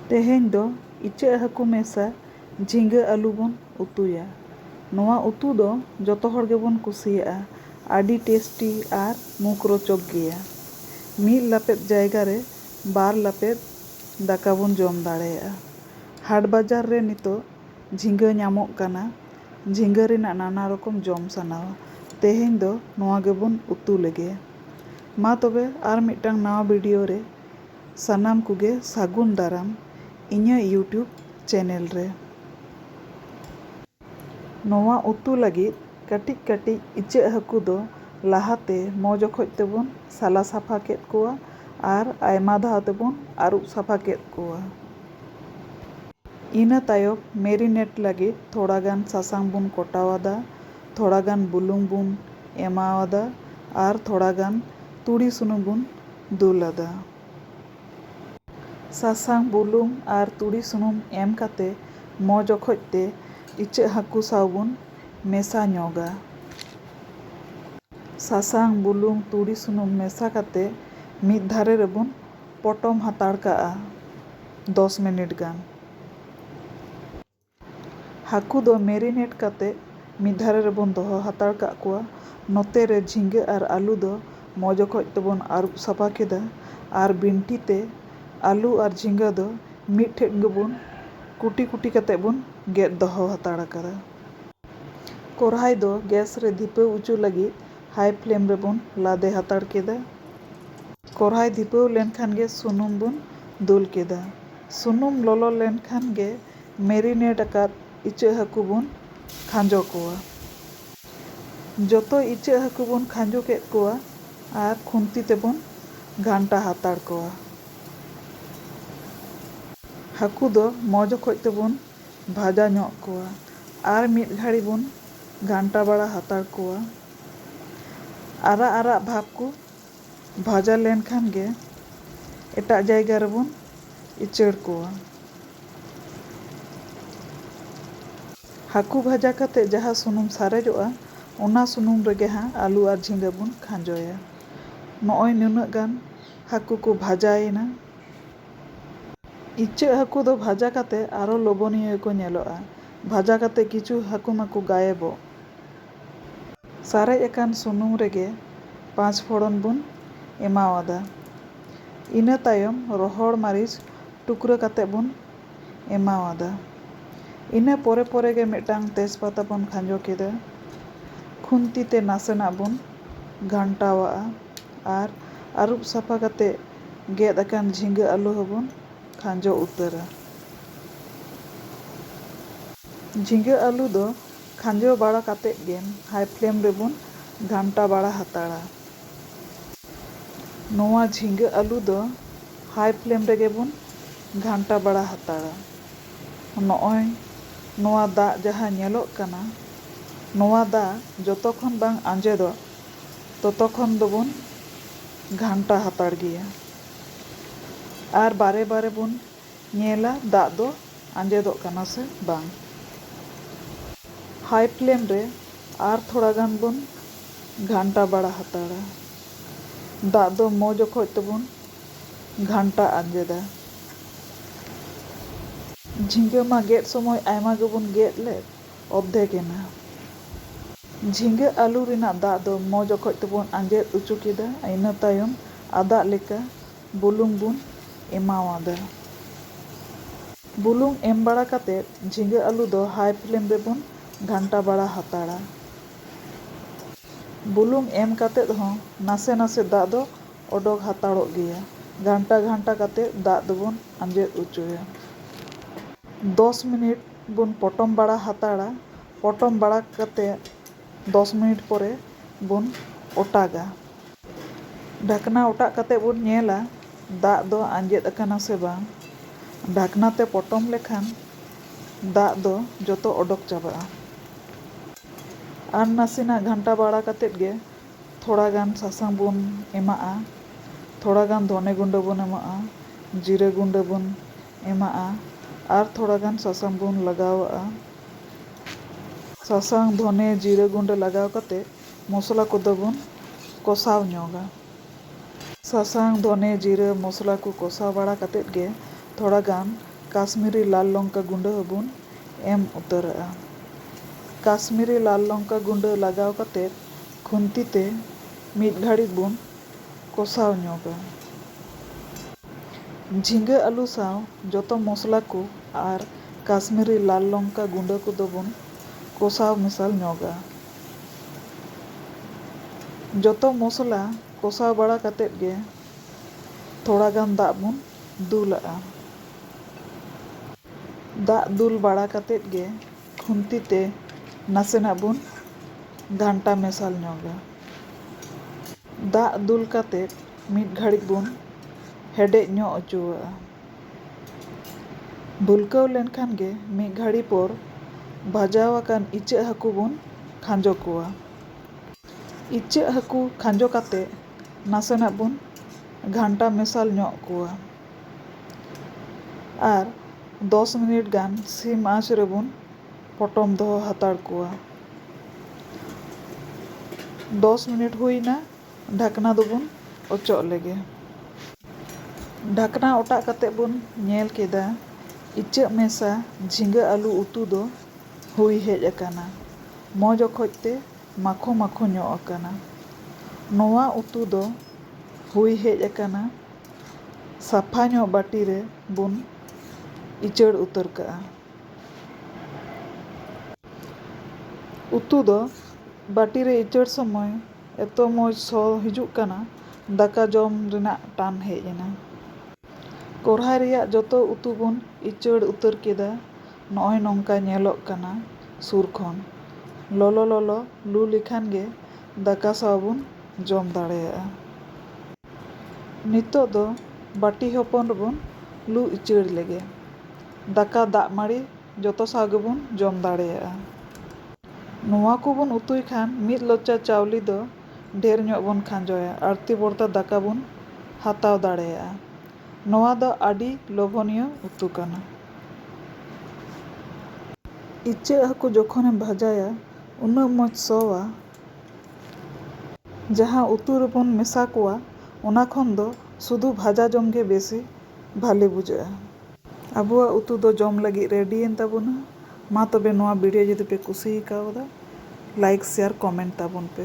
ᱛᱮᱦᱮᱧ ᱫᱚ ᱤᱪᱟᱹᱜ ᱦᱟᱹᱠᱩ ᱢᱮᱥᱟ ᱡᱷᱤᱸᱜᱟᱹ ᱟᱹᱞᱩ ᱵᱚᱱ ᱩᱛᱩᱭᱟ᱾ ᱱᱚᱣᱟ ᱩᱛᱩ ᱫᱚ ᱡᱚᱛᱚ ᱦᱚᱲ ᱜᱮᱵᱚᱱ ᱠᱩᱥᱤᱭᱟᱜᱼᱟ᱾ ᱟᱹᱰᱤ ᱴᱮᱥᱴᱤ ᱟᱨ ᱢᱩᱠᱷ ᱨᱚᱪᱚᱠ ᱜᱮᱭᱟ᱾ ᱢᱤᱫ ᱞᱟᱯᱮᱫ ᱡᱟᱭᱜᱟ ᱨᱮ ᱵᱟᱨ ᱞᱟᱯᱮᱫ ᱫᱟᱠᱟ ᱵᱚᱱ ᱡᱚᱢ ᱫᱟᱲᱮᱭᱟᱜᱼᱟ᱾ ᱦᱟᱴ ᱵᱟᱡᱟᱨ ᱨᱮ ᱱᱤᱛᱚᱜ ᱡᱷᱤᱸᱜᱟᱹ ᱧᱟᱢᱚᱜ ᱠᱟᱱᱟ᱾ ᱡᱷᱤᱸᱜᱟᱹ ᱨᱮᱱᱟᱜ ᱱᱟᱱᱟ ᱨᱚᱠᱚᱢ ᱡᱚᱢ ᱥᱟᱱᱟᱣᱟ᱾ ᱛᱮᱦᱮᱧ ᱫᱚ ᱱᱚᱣᱟ ᱜᱮᱵᱚᱱ ᱩᱛᱩ ᱞᱮᱜᱮ᱾ ᱢᱟ ᱛᱚᱵᱮ ᱟᱨ ᱢᱤᱫᱴᱟᱝ ᱱᱟᱣᱟ ᱵᱷᱤᱰᱤᱭᱳ ᱨᱮ ᱥᱟᱱᱟᱢ ᱠᱚᱜᱮ ᱥᱟᱹᱜᱩᱱ ᱫᱟᱨᱟᱢ ᱤᱧᱟᱹᱜ ᱭᱩᱴᱭᱩᱵᱽ ᱪᱮᱱᱮᱞ ᱨᱮ᱾ ᱱᱚᱣᱟ ᱩᱛᱩ ᱞᱟᱹᱜᱤᱫ ᱠᱟᱹᱴᱤᱡ ᱠᱟᱹᱴᱤᱡ ᱤᱪᱟᱹᱜ ᱦᱟᱹᱠᱩ ᱫᱚ ᱞᱟᱦᱟ ᱛᱮ ᱢᱚᱡᱽ ᱚᱠᱚᱡ ᱛᱮᱵᱚᱱ ᱥᱟᱞᱟ ᱥᱟᱯᱷᱟ ᱠᱮᱫ ᱠᱚᱣᱟ ᱟᱨ ᱟᱭᱢᱟ ᱫᱷᱟᱣ ᱛᱮᱵᱚᱱ ᱟᱹᱨᱩᱵ ᱥᱟᱯᱷᱟ ᱠᱮᱫ ᱠᱚᱣᱟ᱾ ᱤᱱᱟᱹ ᱛᱟᱭᱚᱢ ᱢᱮᱨᱤᱱᱮᱴ ᱞᱟᱹᱜᱤᱫ ᱛᱷᱚᱲᱟ ᱜᱟᱱ ᱥᱟᱥᱟᱝ ᱵᱚᱱ ᱠᱚᱴᱟᱣ ᱟᱫᱟ ᱛᱷᱚᱲᱟ ᱜᱟᱱ ᱵᱩᱞᱩᱝ ᱵᱚᱱ ᱮᱢᱟᱣᱟᱫᱟ ᱟᱨ ᱛᱷᱚᱲᱟ ᱜᱟᱱ ᱛᱩᱲᱤ ᱥᱩᱱᱩᱢ ᱵᱚᱱ ᱫᱩᱞ ᱟᱫᱟ᱾ ᱥᱟᱥᱟᱝ, ᱵᱩᱞᱩᱝ ᱟᱨ ᱛᱩᱲᱤ ᱥᱩᱱᱩᱢ ᱮᱢ ᱠᱟᱛᱮ ᱢᱚᱡᱽ ᱚᱠᱚᱡ ᱛᱮ ᱤᱪᱟᱹᱜ ᱦᱟᱹᱠᱩ ᱥᱟᱶ ᱵᱚᱱ ᱢᱮᱥᱟ ᱧᱚᱜᱟ᱾ ᱥᱟᱥᱟᱝ, ᱵᱩᱞᱩᱝ, ᱛᱩᱲᱤ ᱥᱩᱱᱩᱢ ᱢᱮᱥᱟ ᱠᱟᱛᱮ ᱢᱤᱫ ᱫᱷᱟᱨᱮ ᱨᱮᱵᱚᱱ ᱯᱚᱴᱚᱢ ᱦᱟᱛᱟᱲ ᱠᱟᱜᱼᱟ ᱫᱚᱥ ᱢᱤᱱᱤᱴ ᱜᱟᱱ᱾ ᱦᱟᱹᱠᱩ ᱫᱚ ᱢᱮᱨᱤᱱᱮᱴ ᱠᱟᱛᱮ ᱢᱤᱫ ᱫᱷᱟᱨᱮ ᱨᱮᱵᱚᱱ ᱫᱚᱦᱚ ᱦᱟᱛᱟᱲ ᱠᱟᱜ ᱠᱚᱣᱟ᱾ ᱱᱚᱛᱮ ᱨᱮ ᱡᱷᱤᱸᱜᱟᱹ ᱟᱨ ᱟᱹᱞᱩ ᱫᱚ ᱢᱚᱡᱽ ᱚᱠᱚᱡ ᱛᱮᱵᱚᱱ ᱟᱹᱨᱩᱵ ᱥᱟᱯᱷᱟ ᱠᱮᱫᱟ ᱟᱨ ᱵᱤᱱᱴᱷᱤ ᱛᱮ ᱟᱹᱞᱩ ᱟᱨ ᱡᱷᱤᱸᱜᱟᱹ ᱫᱚ ᱢᱤᱫ ᱴᱷᱮᱱ ᱜᱮᱵᱚᱱ ᱠᱩᱴᱤ ᱠᱩᱴᱤ ᱠᱟᱛᱮ ᱵᱚᱱ ᱜᱮᱫ ᱫᱚᱦᱚ ᱦᱟᱛᱟᱲ ᱟᱠᱟᱫᱟ᱾ ᱠᱚᱨᱦᱟᱭ ᱫᱚ ᱜᱮᱥ ᱨᱮ ᱫᱷᱤᱯᱟᱹᱣ ᱚᱪᱚ ᱞᱟᱹᱜᱤᱫ ᱦᱟᱭ ᱯᱷᱞᱮᱢ ᱨᱮᱵᱚᱱ ᱞᱟᱫᱮ ᱦᱟᱛᱟᱲ ᱠᱮᱫᱟ᱾ ᱠᱚᱨᱦᱟᱭ ᱫᱷᱤᱯᱟᱹᱣ ᱞᱮᱱ ᱠᱷᱟᱱ ᱜᱮ ᱥᱩᱱᱩᱢ ᱵᱚᱱ ᱫᱩᱞ ᱠᱮᱫᱟ᱾ ᱥᱩᱱᱩᱢ ᱞᱚᱞᱚ ᱞᱮᱱ ᱠᱷᱟᱱ ᱜᱮ ᱢᱮᱨᱤᱱᱮᱴ ᱟᱠᱟᱫ ᱤᱪᱟᱹᱜ ᱦᱟᱹᱠᱩ ᱵᱚᱱ ᱠᱷᱟᱸᱡᱚ ᱠᱚᱣᱟ᱾ ᱡᱚᱛᱚ ᱤᱪᱟᱹᱜ ᱦᱟᱹᱠᱩ ᱵᱚᱱ ᱠᱷᱟᱸᱡᱚ ᱠᱮᱫ ᱠᱚᱣᱟ ᱟᱨ ᱠᱷᱩᱱᱛᱤ ᱛᱮᱵᱚᱱ ᱜᱷᱟᱱᱴᱟ ᱦᱟᱛᱟᱲ ᱠᱚᱣᱟ᱾ ᱦᱟᱹᱠᱩ ᱫᱚ ᱢᱚᱡᱽ ᱚᱠᱚᱡ ᱛᱮᱵᱚᱱ ᱵᱷᱟᱡᱟ ᱧᱚᱜ ᱠᱚᱣᱟ ᱟᱨ ᱢᱤᱫ ᱜᱷᱟᱹᱲᱤ ᱵᱚᱱ ᱜᱷᱟᱱᱴᱟ ᱵᱟᱲᱟ ᱦᱟᱛᱟᱲ ᱠᱚᱣᱟ᱾ ᱟᱨᱟᱜ ᱟᱨᱟᱜ ᱵᱷᱟᱵᱽ ᱠᱚ᱾ ᱵᱷᱟᱡᱟ ᱞᱮᱱ ᱠᱷᱟᱱ ᱜᱮ ᱮᱴᱟᱜ ᱡᱟᱭᱜᱟ ᱨᱮ ᱵᱚᱱ ᱤᱪᱟᱹᱲ ᱠᱚᱣᱟ᱾ ᱦᱟᱹᱠᱩ ᱵᱷᱟᱡᱟ ᱠᱟᱛᱮ ᱡᱟᱦᱟᱸ ᱥᱩᱱᱩᱢ ᱥᱟᱨᱮᱡᱚᱜᱼᱟ ᱚᱱᱟ ᱥᱩᱱᱩᱢ ᱨᱮ ᱜᱮ ᱦᱟᱸᱜ ᱟᱹᱞᱩ ᱟᱨ ᱡᱷᱤᱸᱜᱟᱹ ᱵᱚᱱ ᱠᱷᱟᱸᱡᱚᱭᱟ᱾ ᱱᱚᱜᱼᱚᱭ ᱱᱩᱱᱟᱹᱜ ᱜᱟᱱ ᱦᱟᱹᱠᱩ ᱠᱚ ᱵᱷᱟᱡᱟ ᱮᱱᱟ᱾ ᱤᱪᱟᱹᱜ ᱦᱟᱹᱠᱩ ᱫᱚ ᱵᱷᱟᱡᱟ ᱠᱟᱛᱮ ᱟᱨᱚ ᱞᱚᱵᱚᱱᱤᱭᱟᱹ ᱜᱮ ᱠᱚ ᱧᱮᱞᱚᱜᱼᱟ᱾ ᱵᱷᱟᱡᱟ ᱠᱟᱛᱮ ᱠᱤᱪᱷᱩ ᱦᱟᱹᱠᱩ ᱢᱟᱠᱚ ᱜᱟᱭᱮᱵᱚᱜ᱾ ᱥᱟᱨᱮᱡ ᱟᱠᱟᱱ ᱥᱩᱱᱩᱢ ᱨᱮᱜᱮ ᱯᱟᱸᱪ ᱯᱷᱚᱲᱚᱱ ᱵᱚᱱ ᱮᱢᱟᱣᱟᱫᱟ᱾ ᱤᱱᱟᱹ ᱛᱟᱭᱚᱢ ᱨᱚᱦᱚᱲ ᱢᱟᱹᱨᱤᱪ ᱴᱩᱠᱨᱟᱹ ᱠᱟᱛᱮ ᱵᱚᱱ ᱮᱢᱟᱣᱟᱫᱟ᱾ ᱤᱱᱟᱹ ᱯᱚᱨᱮ ᱯᱚᱨᱮ ᱜᱮ ᱢᱤᱫᱴᱟᱝ ᱛᱮᱡᱽ ᱯᱟᱛᱟ ᱵᱚᱱ ᱠᱷᱟᱸᱡᱚ ᱠᱮᱫᱟ᱾ ᱠᱷᱩᱱᱛᱤ ᱛᱮ ᱱᱟᱥᱮᱱᱟᱜ ᱵᱚᱱ ᱜᱷᱟᱱᱴᱟᱣᱟᱜᱼᱟ ᱟᱨ ᱟᱹᱨᱩᱵ ᱥᱟᱯᱷᱟ ᱠᱟᱛᱮ ᱜᱮᱫ ᱟᱠᱟᱱ ᱡᱷᱤᱸᱜᱟᱹ ᱟᱹᱞᱩ ᱦᱚᱸ ᱵᱚᱱ ᱠᱷᱟᱸᱡᱚ ᱩᱛᱟᱹᱨᱟ᱾ ᱡᱷᱤᱸᱜᱟᱹ ᱟᱹᱞᱩ ᱫᱚ ᱠᱷᱟᱸᱡᱚ ᱵᱟᱲᱟ ᱠᱟᱛᱮ ᱜᱮ ᱦᱟᱭ ᱯᱷᱞᱮᱢ ᱨᱮᱵᱚᱱ ᱜᱷᱟᱱᱴᱟ ᱵᱟᱲᱟ ᱦᱟᱛᱟᱲᱟ᱾ ᱱᱚᱣᱟ ᱡᱷᱤᱸᱜᱟᱹ ᱟᱹᱞᱩ ᱫᱚ ᱦᱟᱭ ᱯᱷᱞᱮᱢ ᱨᱮᱜᱮ ᱵᱚᱱ ᱜᱷᱟᱱᱴᱟ ᱵᱟᱲᱟ ᱦᱟᱛᱟᱲᱟ᱾ ᱱᱚᱜᱼᱚᱭ ᱱᱚᱣᱟ ᱫᱟᱜ ᱡᱟᱦᱟᱸ ᱧᱮᱞᱚᱜ ᱠᱟᱱᱟ, ᱱᱚᱣᱟ ᱫᱟᱜ ᱡᱚᱛᱚ ᱠᱷᱚᱱ ᱵᱟᱝ ᱟᱸᱡᱮᱫᱚᱜ ᱛᱚᱛᱚ ᱠᱷᱚᱱ ᱫᱚᱵᱚᱱ ᱜᱷᱟᱱᱴᱟ ᱦᱟᱛᱟᱲ ᱜᱮᱭᱟ᱾ ᱟᱨ ᱵᱟᱨᱮ ᱵᱟᱨᱮ ᱵᱚᱱ ᱧᱮᱞᱟ ᱫᱟᱜ ᱫᱚ ᱟᱸᱡᱮᱫᱚᱜ ᱠᱟᱱᱟ ᱥᱮ ᱵᱟᱝ᱾ ᱦᱟᱭ ᱯᱷᱞᱮᱢ ᱨᱮ ᱟᱨ ᱛᱷᱚᱲᱟ ᱜᱟᱱ ᱵᱚᱱ ᱜᱷᱟᱱᱴᱟ ᱵᱟᱲᱟ ᱦᱟᱛᱟᱲᱟ᱾ ᱫᱟᱜ ᱫᱚ ᱢᱚᱡᱽ ᱚᱠᱚᱡ ᱛᱮᱵᱚᱱ ᱜᱷᱟᱱᱴᱟ ᱟᱸᱡᱮᱫᱟ᱾ ᱡᱷᱤᱸᱜᱟᱹ ᱢᱟ ᱜᱮᱫ ᱥᱚᱢᱚᱭ ᱟᱭᱢᱟ ᱜᱮᱵᱚᱱ ᱜᱮᱫ ᱞᱮᱫ, ᱚᱨᱫᱷᱮᱠ ᱮᱱᱟ᱾ ᱡᱷᱤᱸᱜᱟᱹ ᱟᱹᱞᱩ ᱨᱮᱱᱟᱜ ᱫᱟᱜ ᱫᱚ ᱢᱚᱡᱽ ᱚᱠᱚᱡ ᱛᱮᱵᱚᱱ ᱟᱸᱡᱮᱫ ᱚᱪᱚ ᱠᱮᱫᱟ᱾ ᱤᱱᱟᱹ ᱛᱟᱭᱚᱢ ᱟᱫᱟᱜ ᱞᱮᱠᱟ᱾ ᱵᱩᱞᱩᱝ ᱵᱚᱱ ᱮᱢᱟᱣᱟᱫᱟ᱾ ᱵᱩᱞᱩᱝ ᱮᱢ ᱵᱟᱲᱟ ᱠᱟᱛᱮ ᱡᱷᱤᱸᱜᱟᱹ ᱟᱹᱞᱩ ᱫᱚ ᱦᱟᱭ ᱯᱷᱞᱮᱢ ᱨᱮ ᱵᱚᱱ ᱜᱷᱟᱱᱴᱟ ᱵᱟᱲᱟ ᱦᱟᱛᱟᱲᱟ᱾ ᱵᱩᱞᱩᱝ ᱮᱢ ᱠᱟᱛᱮ ᱦᱚᱸ ᱱᱟᱥᱮ ᱱᱟᱥᱮ ᱫᱟᱜ ᱫᱚ ᱚᱰᱚᱠ ᱦᱟᱛᱟᱲᱚᱜ ᱜᱮᱭᱟ᱾ ᱜᱷᱟᱱᱴᱟ ᱜᱷᱟᱱᱴᱟ ᱠᱟᱛᱮ ᱫᱟᱜ ᱫᱚ ᱵᱚᱱ ᱟᱸᱡᱮᱫ ᱚᱪᱚᱭᱟ᱾ ᱫᱚᱥ ᱢᱤᱱᱤᱴ ᱵᱚᱱ ᱯᱚᱴᱚᱢ ᱵᱟᱲᱟ ᱦᱟᱛᱟᱲᱟ᱾ ᱯᱚᱴᱚᱢ ᱵᱟᱲᱟ ᱠᱟᱛᱮ᱾ ᱫᱚᱥ ᱢᱤᱱᱤᱴ ᱯᱚᱨᱮ ᱵᱚᱱ ᱚᱴᱟᱜᱟ᱾ ᱰᱷᱟᱠᱱᱟ ᱚᱴᱟᱜ ᱠᱟᱛᱮ ᱵᱚᱱ ᱧᱮᱞᱟ ᱫᱟᱜ ᱫᱚ ᱟᱸᱡᱮᱫ ᱟᱠᱟᱱᱟ ᱥᱮ ᱵᱟᱝ᱾ ᱰᱷᱟᱠᱱᱟ ᱛᱮ ᱯᱚᱴᱚᱢ ᱞᱮᱠᱷᱟᱱ ᱫᱟᱜ ᱫᱚ ᱡᱚᱛᱚ ᱚᱰᱚᱠ ᱪᱟᱵᱟᱜᱼᱟ᱾ ᱟᱨ ᱱᱟᱥᱮᱱᱟᱜ ᱜᱷᱟᱱᱴᱟ ᱵᱟᱲᱟ ᱠᱟᱛᱮ ᱜᱮ ᱛᱷᱚᱲᱟ ᱜᱟᱱ ᱥᱟᱥᱟᱝ ᱵᱚᱱ ᱮᱢᱟᱜᱼᱟ, ᱛᱷᱚᱲᱟ ᱜᱟᱱ ᱫᱷᱚᱱᱮ ᱜᱩᱸᱰᱟᱹ ᱵᱚᱱ ᱮᱢᱟᱜᱼᱟ, ᱡᱤᱨᱟᱹ ᱜᱩᱸᱰᱟᱹ ᱵᱚᱱ ᱮᱢᱟᱜᱼᱟ ᱟᱨ ᱛᱷᱚᱲᱟ ᱜᱟᱱ ᱥᱟᱥᱟᱝ ᱵᱚᱱ ᱞᱟᱜᱟᱣᱟᱜᱼᱟ᱾ ᱥᱟᱥᱟᱝ, ᱫᱷᱚᱱᱮ, ᱡᱤᱨᱟᱹ ᱜᱩᱸᱰᱟᱹ ᱞᱟᱜᱟᱣ ᱠᱟᱛᱮ ᱢᱚᱥᱞᱟ ᱠᱚᱫᱚ ᱵᱚᱱ ᱠᱚᱥᱟᱣ ᱧᱚᱜᱟ᱾ ᱥᱟᱥᱟᱝ, ᱫᱷᱚᱱᱮ, ᱡᱤᱨᱟᱹ, ᱢᱚᱥᱞᱟ ᱠᱚ ᱠᱚᱥᱟᱣ ᱵᱟᱲᱟ ᱠᱟᱛᱮ ᱜᱮ ᱛᱷᱚᱲᱟ ᱜᱟᱱ ᱠᱟᱥᱢᱤᱨᱤ ᱞᱟᱞ ᱞᱚᱝᱠᱟ ᱜᱩᱸᱰᱟᱹ ᱦᱚᱸ ᱵᱚᱱ ᱮᱢ ᱩᱛᱟᱹᱨᱟᱜᱼᱟ᱾ ᱠᱟᱥᱢᱤᱨᱤ ᱞᱟᱞ ᱞᱚᱝᱠᱟ ᱜᱩᱸᱰᱟᱹ ᱞᱟᱜᱟᱣ ᱠᱟᱛᱮ ᱠᱷᱩᱱᱛᱤ ᱛᱮ ᱢᱤᱫ ᱜᱷᱟᱹᱲᱤᱡ ᱵᱚᱱ ᱠᱚᱥᱟᱣ ᱧᱚᱜᱟ᱾ ᱡᱷᱤᱸᱜᱟᱹ ᱟᱹᱞᱩ ᱥᱟᱶ ᱡᱚᱛᱚ ᱢᱚᱥᱞᱟ ᱠᱚ ᱟᱨ ᱠᱟᱥᱢᱤᱨᱤ ᱞᱟᱞ ᱞᱚᱝᱠᱟ ᱜᱩᱸᱰᱟᱹ ᱠᱚᱫᱚ ᱵᱚᱱ ᱠᱚᱥᱟᱣ ᱢᱮᱥᱟᱞ ᱧᱚᱜᱟ᱾ ᱡᱚᱛᱚ ᱢᱚᱥᱞᱟ ᱠᱚᱥᱟᱣ ᱵᱟᱲᱟ ᱠᱟᱛᱮ ᱜᱮ ᱛᱷᱚᱲᱟ ᱜᱟᱱ ᱫᱟᱜ ᱵᱚᱱ ᱫᱩᱞᱟᱜᱼᱟ᱾ ᱫᱟᱜ ᱫᱩᱞ ᱵᱟᱲᱟ ᱠᱟᱛᱮ ᱜᱮ᱾ ᱠᱷᱩᱱᱛᱤ ᱛᱮ ᱱᱟᱥᱮᱱᱟᱜ ᱵᱚᱱ ᱜᱷᱟᱱᱴᱟ ᱢᱮᱥᱟᱞ ᱧᱚᱜᱟ᱾ ᱫᱟᱜ ᱫᱩᱞ ᱠᱟᱛᱮ ᱢᱤᱫ ᱜᱷᱟᱹᱲᱤᱡ ᱵᱚᱱ ᱦᱮᱰᱮᱡ ᱧᱚᱜ ᱚᱪᱚᱣᱟᱜᱼᱟ᱾ ᱵᱷᱩᱞᱠᱟᱹᱣ ᱞᱮᱱᱠᱷᱟᱱ ᱜᱮ ᱢᱤᱫ ᱜᱷᱟᱹᱲᱤ ᱯᱚᱨ ᱵᱷᱟᱡᱟᱣ ᱟᱠᱟᱱ ᱤᱪᱟᱹᱜ ᱦᱟᱹᱠᱩ ᱵᱚᱱ ᱠᱷᱟᱸᱡᱚ ᱠᱚᱣᱟ᱾ ᱤᱪᱟᱹᱜ ᱦᱟᱹᱠᱩ ᱠᱷᱟᱸᱡᱚ ᱠᱟᱛᱮ ᱱᱟᱥᱮᱱᱟᱜ ᱵᱚᱱ ᱜᱷᱟᱱᱴᱟ ᱢᱮᱥᱟᱞ ᱧᱚᱜ ᱠᱚᱣᱟ᱾ ᱟᱨ ᱫᱚᱥ ᱢᱤᱱᱤᱴ ᱜᱟᱱ ᱥᱤᱢ ᱟᱸᱪ ᱨᱮᱵᱚᱱ ᱯᱚᱴᱚᱢ ᱫᱚᱦᱚ ᱦᱟᱛᱟᱲ ᱠᱚᱣᱟ᱾ ᱫᱚᱥ ᱢᱤᱱᱤᱴ ᱦᱩᱭ ᱮᱱᱟ, ᱰᱷᱟᱠᱱᱟ ᱫᱚᱵᱚᱱ ᱚᱪᱚᱜ ᱞᱮᱜᱮ᱾ ᱰᱷᱟᱠᱱᱟ ᱚᱴᱟᱜ ᱠᱟᱛᱮ ᱵᱚᱱ ᱧᱮᱞ ᱠᱮᱫᱟ ᱤᱪᱟᱹᱜ ᱢᱮᱥᱟ ᱡᱷᱤᱸᱜᱟᱹ ᱟᱹᱞᱩ ᱩᱛᱩ ᱫᱚ ᱦᱩᱭ ᱦᱮᱡ ᱟᱠᱟᱱᱟ᱾ ᱢᱚᱡᱽ ᱚᱠᱚᱡ ᱛᱮ ᱢᱟᱠᱷᱳ ᱢᱟᱠᱷᱳ ᱧᱚᱜ ᱟᱠᱟᱱᱟ᱾ ᱱᱚᱶᱟ ᱩᱛᱩ ᱫᱚ ᱦᱩᱭ ᱦᱮᱡ ᱟᱠᱟᱱᱟ᱾ ᱥᱟᱯᱷᱟ ᱧᱚᱜ ᱵᱟᱹᱴᱤ ᱨᱮ ᱵᱚᱱ ᱤᱪᱟᱹᱲ ᱩᱛᱟᱹᱨ ᱠᱟᱜᱼᱟ᱾ ᱩᱛᱩ ᱫᱚ ᱵᱟᱹᱴᱤ ᱨᱮ ᱤᱪᱟᱹᱲ ᱥᱚᱢᱚᱭ ᱮᱛᱚ ᱢᱚᱡᱽ ᱥᱚ ᱦᱤᱡᱩᱜ ᱠᱟᱱᱟ ᱫᱟᱠᱟ ᱡᱚᱢ ᱨᱮᱱᱟᱜ ᱴᱟᱱ ᱦᱮᱡ ᱮᱱᱟ᱾ ᱠᱚᱨᱦᱟᱭ ᱨᱮᱭᱟᱜ ᱡᱚᱛᱚ ᱩᱛᱩ ᱵᱚᱱ ᱤᱪᱟᱹᱲ ᱩᱛᱟᱹᱨ ᱠᱮᱫᱟ ᱱᱚᱜᱼᱚᱭ ᱱᱚᱝᱠᱟ ᱧᱮᱞᱚᱜ ᱠᱟᱱᱟ ᱥᱩᱨ ᱠᱷᱚᱱ᱾ ᱞᱚᱞᱚ ᱞᱚᱞᱚ ᱞᱩ ᱞᱮᱠᱷᱟᱱ ᱜᱮ ᱫᱟᱠᱟ ᱥᱟᱶ ᱵᱚᱱ ᱡᱚᱢ ᱫᱟᱲᱮᱭᱟᱜᱼᱟ᱾ ᱱᱤᱛᱚᱜ ᱫᱚ ᱵᱟᱹᱴᱤ ᱦᱚᱯᱚᱱ ᱨᱮᱵᱚᱱ ᱞᱩ ᱤᱪᱟᱹᱲ ᱞᱮᱜᱮ᱾ ᱫᱟᱠᱟ ᱫᱟᱜ ᱢᱟᱹᱲᱤ ᱡᱚᱛᱚ ᱥᱟᱶ ᱜᱮᱵᱚᱱ ᱡᱚᱢ ᱫᱟᱲᱮᱭᱟᱜᱼᱟ᱾ ᱱᱚᱶᱟ ᱠᱚ ᱵᱚᱱ ᱩᱛᱩᱭ ᱠᱷᱟᱱ ᱢᱤᱫ ᱞᱚᱪᱟ ᱪᱟᱣᱞᱮ ᱫᱚ ᱰᱷᱮᱨ ᱧᱚᱜ ᱵᱚᱱ ᱠᱷᱟᱸᱡᱚᱭᱟ ᱟᱹᱲᱛᱤ ᱵᱚᱨᱛᱟ ᱫᱟᱠᱟ ᱵᱚᱱ ᱦᱟᱛᱟᱣ ᱫᱟᱲᱮᱭᱟᱜᱼᱟ᱾ ᱱᱚᱶᱟ ᱫᱚ ᱟᱹᱰᱤ ᱞᱚᱵᱷᱚᱱᱤᱭᱚ ᱩᱛᱩ ᱠᱟᱱᱟ᱾ ᱤᱪᱟᱹᱜ ᱦᱟᱹᱠᱩ ᱡᱚᱠᱷᱚᱱ ᱮᱢ ᱵᱷᱟᱡᱟᱭᱟ᱾ ᱩᱱᱟᱹᱜ ᱢᱚᱡᱽ ᱥᱚᱣᱟ ᱡᱟᱦᱟᱸ ᱩᱛᱩ ᱨᱮᱵᱚᱱ ᱢᱮᱥᱟ ᱠᱚᱣᱟ ᱚᱱᱟ ᱠᱷᱚᱱ ᱫᱚ ᱥᱩᱫᱷᱩ ᱵᱷᱟᱡᱟ ᱡᱚᱢ ᱜᱮ ᱵᱮᱥᱤ ᱵᱷᱟᱞᱮ ᱵᱩᱡᱷᱟᱹᱜᱼᱟ᱾ ᱟᱵᱚᱣᱟᱜ ᱩᱛᱩ ᱫᱚ ᱡᱚᱢ ᱞᱟᱹᱜᱤᱫ ᱨᱮᱰᱤ ᱮᱱ ᱛᱟᱵᱚᱱᱟ᱾ ᱢᱟ ᱛᱚᱵᱮ ᱱᱚᱣᱟ ᱵᱷᱤᱰᱤᱭᱳ ᱡᱩᱫᱤ ᱯᱮ ᱠᱩᱥᱤ ᱠᱟᱣᱫᱟ ᱞᱟᱭᱤᱠ ᱥᱮᱭᱟᱨ ᱠᱚᱢᱮᱱᱴ ᱛᱟᱵᱚᱱ ᱯᱮ᱾